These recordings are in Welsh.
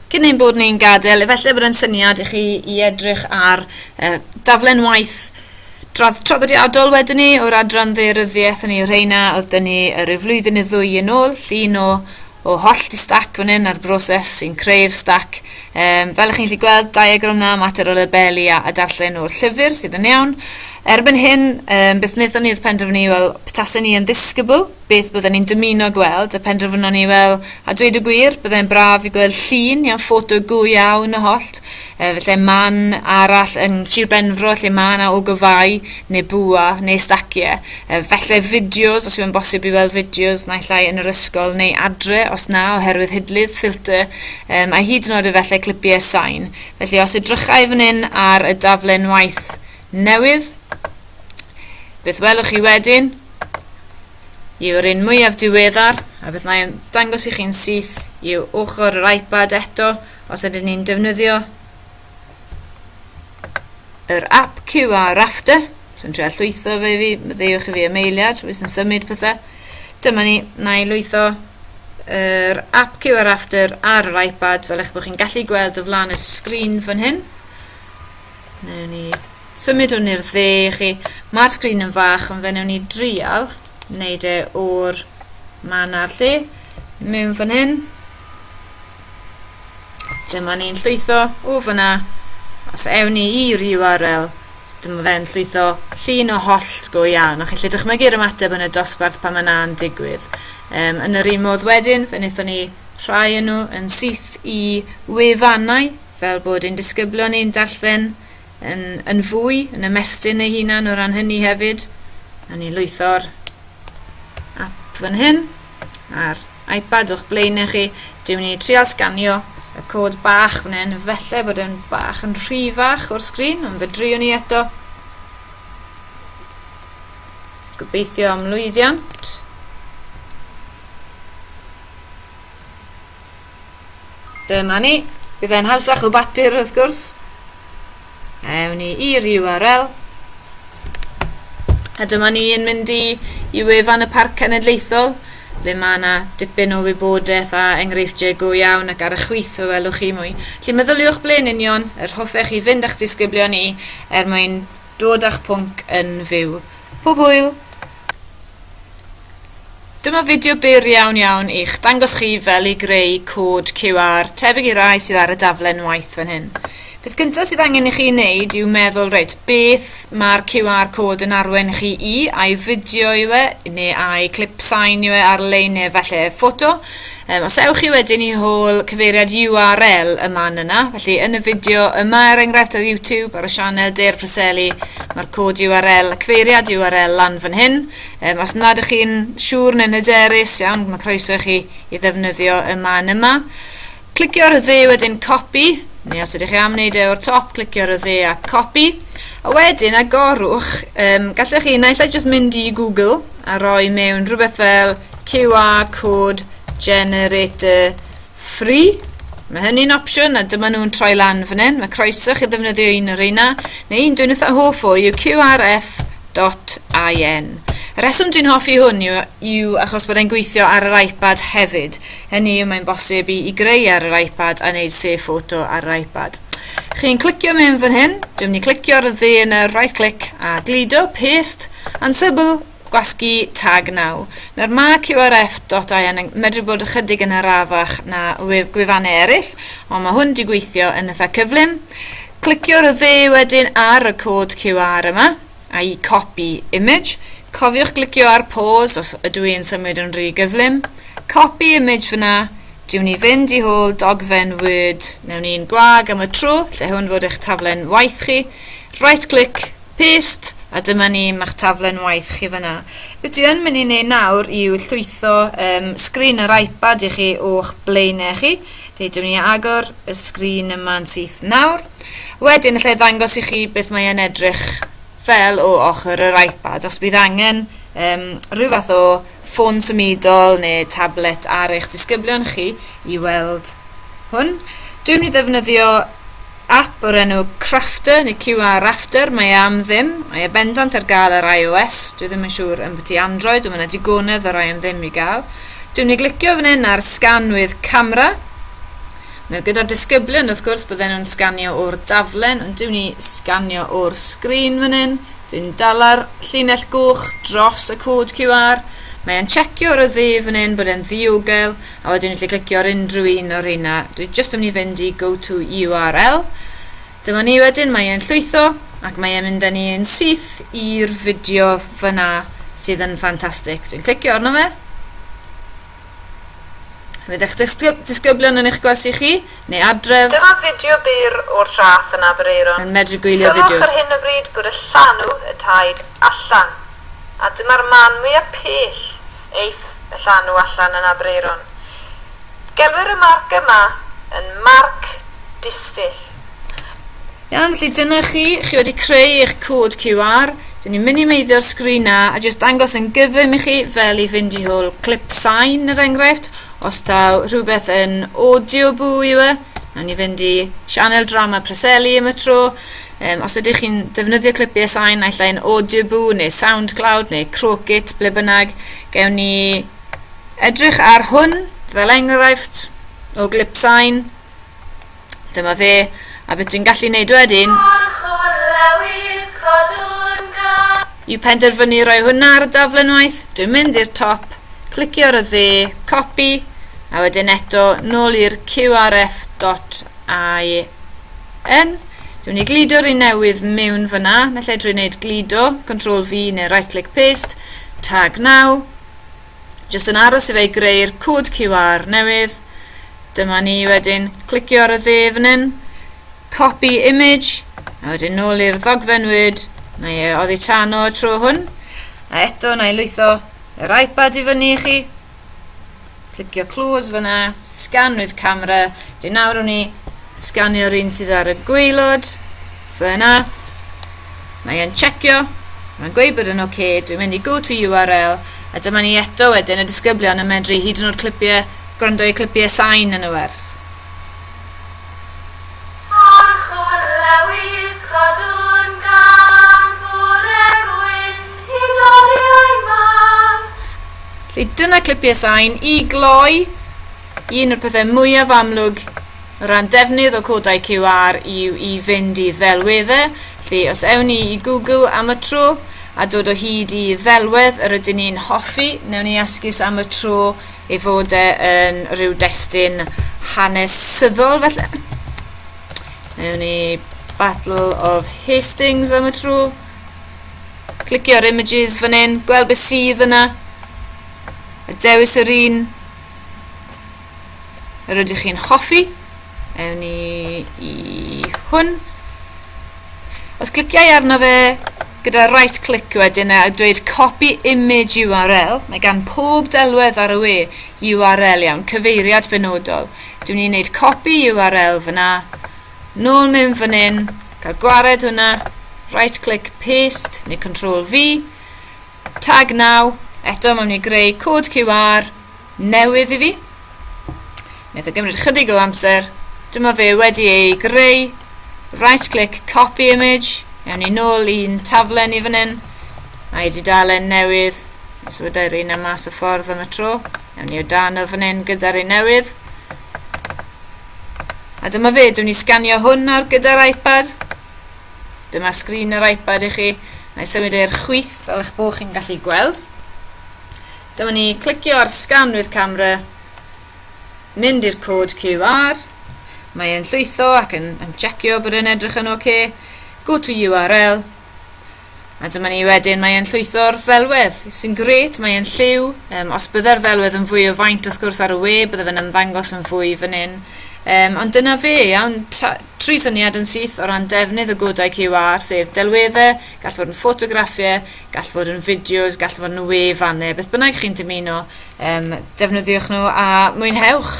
Cyn ein bod ni'n gadael, efallai bod yn syniad i chi i edrych ar uh, daflen waith dradd traddodiadol wedyn ni o'r adran ddeiryddiaeth yn ei reina oedd dyn ni rhyw flwyddyn neu ddwy yn ôl, llun o, o holl di stac fan hyn a'r broses sy'n creu'r stac. Um, fel ych chi'n gallu gweld, diagram na, mater o labelu a, a darllen o'r llyfr sydd yn iawn. Erbyn hyn, um, beth wnaethon ni oedd penderfynu, wel, petasen ni yn ddisgybl, beth bydden ni'n dymuno gweld, a penderfynon ni, wel, a dweud y gwir, byddai'n braf i gweld llun neu ffoto go iawn o hollt, uh, felly man arall yn Sir Benfro lle mae yna ogofau, neu bwa, neu stacie. Uh, felly fideos, os yw'n bosib i weld fideos naill ai yn yr ysgol neu adre, os na, oherwydd hidlydd, ffilter, um, a hyd yn oed efallai clipiau sain. Felly os edrychau fan hyn ar y daflen waith newydd, beth welwch chi wedyn? yw'r un mwyaf diweddar a beth mae'n dangos i chi'n syth yw ochr yr iPad eto os ydyn ni'n defnyddio yr ap QR Rafter sy'n trio llwytho fe i fi, ddewch i fi am eiliad, rwy'n sy'n symud pethau. Dyma ni, na i lwytho yr app QR Rafter ar yr iPad fel eich bod chi'n gallu gweld o flaen y sgrin fan hyn. Newn ni Symudwn i'r dde i chi. Mae'r sgrin yn fach ond fe newn ni drial wneud e o'r man a'r lle mewn fan hyn. Dyma ni'n llwytho o fyna. Os ewn ni i'r URL, dyma fe'n llwytho llun o hollt go iawn. O'ch chi'n dychmygu'r ymateb yn y dosbarth pan mae na'n digwydd. Um, yn yr un modd wedyn, fe wnaethon ni rhai yn nhw yn syth i wefannau fel bod ein disgyblion ni'n darllen yn, yn fwy, yn ymestyn ei hunan o ran hynny hefyd. A ni lwytho'r app fan hyn a'r iPad o'ch blaenau chi. Dwi'n mynd i trial sganio y cod bach fan hyn. Felly bod yn bach yn rhy fach o'r sgrin, ond fe driwn ni eto. Gobeithio am lwyddiant. Dyma ni. Bydd e'n hawsach o bapur wrth gwrs. Ewn ni i'r URL. A dyma ni yn mynd i, i wefan y Parc Cenedlaethol, le mae yna dipyn o wybodaeth a enghreifftiau go iawn ac ar y chwith fe welwch chi mwy. Felly meddyliwch ble'n union yr hoffech chi fynd â'ch disgyblion i er mwyn dod â'ch pwnc yn fyw. Pob hwyl! Dyma fideo byr iawn iawn i'ch dangos chi fel i greu cod QR tebyg i rai sydd ar y daflen waith fan hyn. Beth gyntaf sydd angen i chi wneud yw meddwl, reit, beth mae'r QR cod yn arwain chi i, a'i fideo yw e, neu a'i clip sain yw e ar-lein neu falle ffoto, Um, os ewch chi wedyn i hôl cyfeiriad URL y man yna, felly yn y fideo yma er enghraifft ar YouTube ar y sianel Deir Preseli, mae'r cod URL, cyfeiriad URL lan fan hyn. Um, os nad ych chi'n siŵr neu'n hyderus iawn, mae croeso i chi i ddefnyddio y man yma. Clicio'r dde wedyn copy, neu os ydych chi am wneud e o'r top, clicio'r dde a copy. A wedyn agorwch, um, gallech chi naill ai jyst mynd i Google a roi mewn rhywbeth fel QR code generator free. Mae hynny'n opsiwn a dyma nhw'n troi lan fan hyn. Mae croeso chi ddefnyddio un o'r reina, neu un dwi'n eitha hoff o yw qrf.in. Y reswm dwi'n hoffi hwn yw, yw achos bod e'n gweithio ar yr iPad hefyd. Hynny yw mae'n bosib i, i greu ar yr iPad a wneud sef ffoto ar yr iPad. Chi'n clicio mewn fan hyn, dwi'n mynd i clicio ar y dde yn y right click a gludo, paste, and sybil Gwasgu tag naw. Nawr mae QRF.IN yn medru bod ychydig yn arafach na gwefannau eraill, ond mae hwn wedi gweithio yn eitha cyflym. Clicio'r dde wedyn ar y cod QR yma, a'i copy image. Cofiwch glicio ar pause os ydw i'n symud yn rhy gyflym. Copy image fyna, diwn ni fynd i hôl dogfen Word mewn un gwag am y tro, lle hwn fod eich taflen waith chi. Right click, Paste, a dyma ni, mae'ch taflen waith chi fyna. Be dwi yn mynd i wneud nawr yw llwytho um, sgrin yr iPad i chi o'ch blaenau chi. Deudwn ni agor y sgrin yma'n syth nawr. Wedyn, allai ddangos i chi beth mae'n edrych fel o ochr yr iPad. Os bydd angen um, rhyw fath o ffôn symudol neu tablet ar eich disgyblion chi i weld hwn. Dwi'n mynd i ddefnyddio app o'r enw Crafter neu QR Rafter, mae e am ddim, mae e bendant ar gael ar iOS, dwi ddim yn siŵr yn byti Android, ond mae yna digonedd o rai am ddim i gael. Dwi'n mynd i glicio fan hyn ar sganwydd camera, Nawr gyda'r disgyblion wrth gwrs bydden nhw'n sganio o'r daflen ond dwi'n ni sganio o'r sgrin fan hyn. Dwi'n dala'r llinell goch dros y cod QR. Mae e'n checio ar y dde fan hyn bod e'n ddiogel a wedyn ni'n gallu clicio ar unrhyw un o'r reina. Dwi jyst yn mynd i fynd i go to URL. Dyma ni wedyn, mae e'n llwytho ac mae e'n mynd â ni yn syth i'r fideo fyna sydd yn ffantastig. Dwi'n clicio arno fe. Fydd eich disgyblion yn eich gwersi chi, neu adref. Dyma fideo byr o'r traeth yn Aberaeron. Yn medru gwylio fideos. Sylwch ar hyn o bryd bod y llanw y taid allan, a dyma'r man mwya pell eith y llanw allan yn Aberaeron. Gelwir y marc yma yn marc distyll. Iawn, felly dyna chi, chi wedi creu eich cod QR. Dyn ni'n minimeiddio'r sgrin na a jyst dangos yn gyflym i chi fel i fynd i hwyl clip sain yr enghraifft. Os taw rhywbeth yn audio bw yw e, na ni fynd i sianel drama Preseli am y tro. Um, os ydych chi'n defnyddio clipiau sain, naill ai'n audio bw neu SoundCloud neu Crocit, ble bynnag, gewn ni edrych ar hwn fel enghraifft o glip sain Dyma fe, a beth dwi'n gallu neud wedyn yw penderfynu roi hwnna ar y daflen waith, dwi'n mynd i'r top, clicio ar y dde, copy, a wedyn eto nôl i'r qrf.in. Dwi'n mynd i glido'r un newydd mewn fyna, naill ai drwy wneud glido, Ctrl V neu right click paste, tag now, Jyst yn aros i fe greu'r cod QR newydd. Dyma ni wedyn, clicio ar y dde fan hyn, copy image, a wedyn nôl i'r ddogfen Word, na ie, oddi tan o'r tro hwn, a eto na i lwytho yr iPad i fyny i chi, clicio close fyna, scan with camera, dyn nawr o'n i sganio'r un sydd ar y gweilod, Fyna. Mae e'n checio. Mae'n gweud bod yn ok. Dwi'n mynd i go to URL a dyma ni eto wedyn y disgyblion yn medru hyd yn oed clipiau, gwrando i clipiau sain yn y wers. Torchwr Lewis Cadw'n gam Bore gwyn Hyd oriau man. Felly dyna clipiau sain i gloi un o'r pethau mwyaf amlwg O ran defnydd o codau QR yw i fynd i ddelweddau, lle os ewn ni i Google am y tro a dod o hyd i ddelwedd yr ydyn ni'n hoffi, newn ni esgus am y tro ei fod e yn rhyw destun hanesyddol felly. Newn ni Battle of Hastings am y tro. Clicio'r images fan hyn, gweld beth sydd yna. A dewis yr un Yr ydych chi'n hoffi? Ewn ni i hwn. Os cliciau arno fe gyda right click wedyn a dweud copy image URL, mae gan pob delwedd ar y we URL iawn, cyfeiriad benodol. Dwi'n ni'n gwneud copy URL fyna, nôl mewn fan hyn, cael gwared hwnna, right click paste neu control V, tag now, eto mae'n mynd i greu cod QR, newydd i fi. Wnaeth o gymryd chydig o amser. Dyma fe wedi ei greu. Right click copy image. Ewn ni nôl i'n taflen i fan hyn. Mae wedi dalen newydd. Os wydau'r un am mas o ffordd am y tro. Ewn ni o dan o fan hyn gyda'r un newydd. A dyma fe, dwi'n ni sganio hwn ar gyda'r iPad. Dyma sgrin yr iPad i chi. Mae symud e'r chwyth fel eich bod chi'n gallu gweld. Dyma ni, clicio ar sgan with camera, mynd i'r cod QR, mae e'n llwytho ac yn, yn checio bod e'n edrych yn oce, okay. go to URL, a dyma ni wedyn mae e'n llwytho'r ddelwedd, sy'n gret, mae e'n lliw, um, os bydde'r ddelwedd yn fwy o faint wrth gwrs ar y we, bydde fe'n ymddangos yn fwy fan hyn, Um, ond dyna fe, iawn, tri syniad yn syth o ran defnydd y godau QR, sef delweddau, gall fod yn ffotograffiau, gall fod yn fideos, gall fod yn wefannau, beth bynnag chi'n dymuno, um, defnyddiwch nhw a mwynhewch.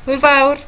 Hwyl fawr!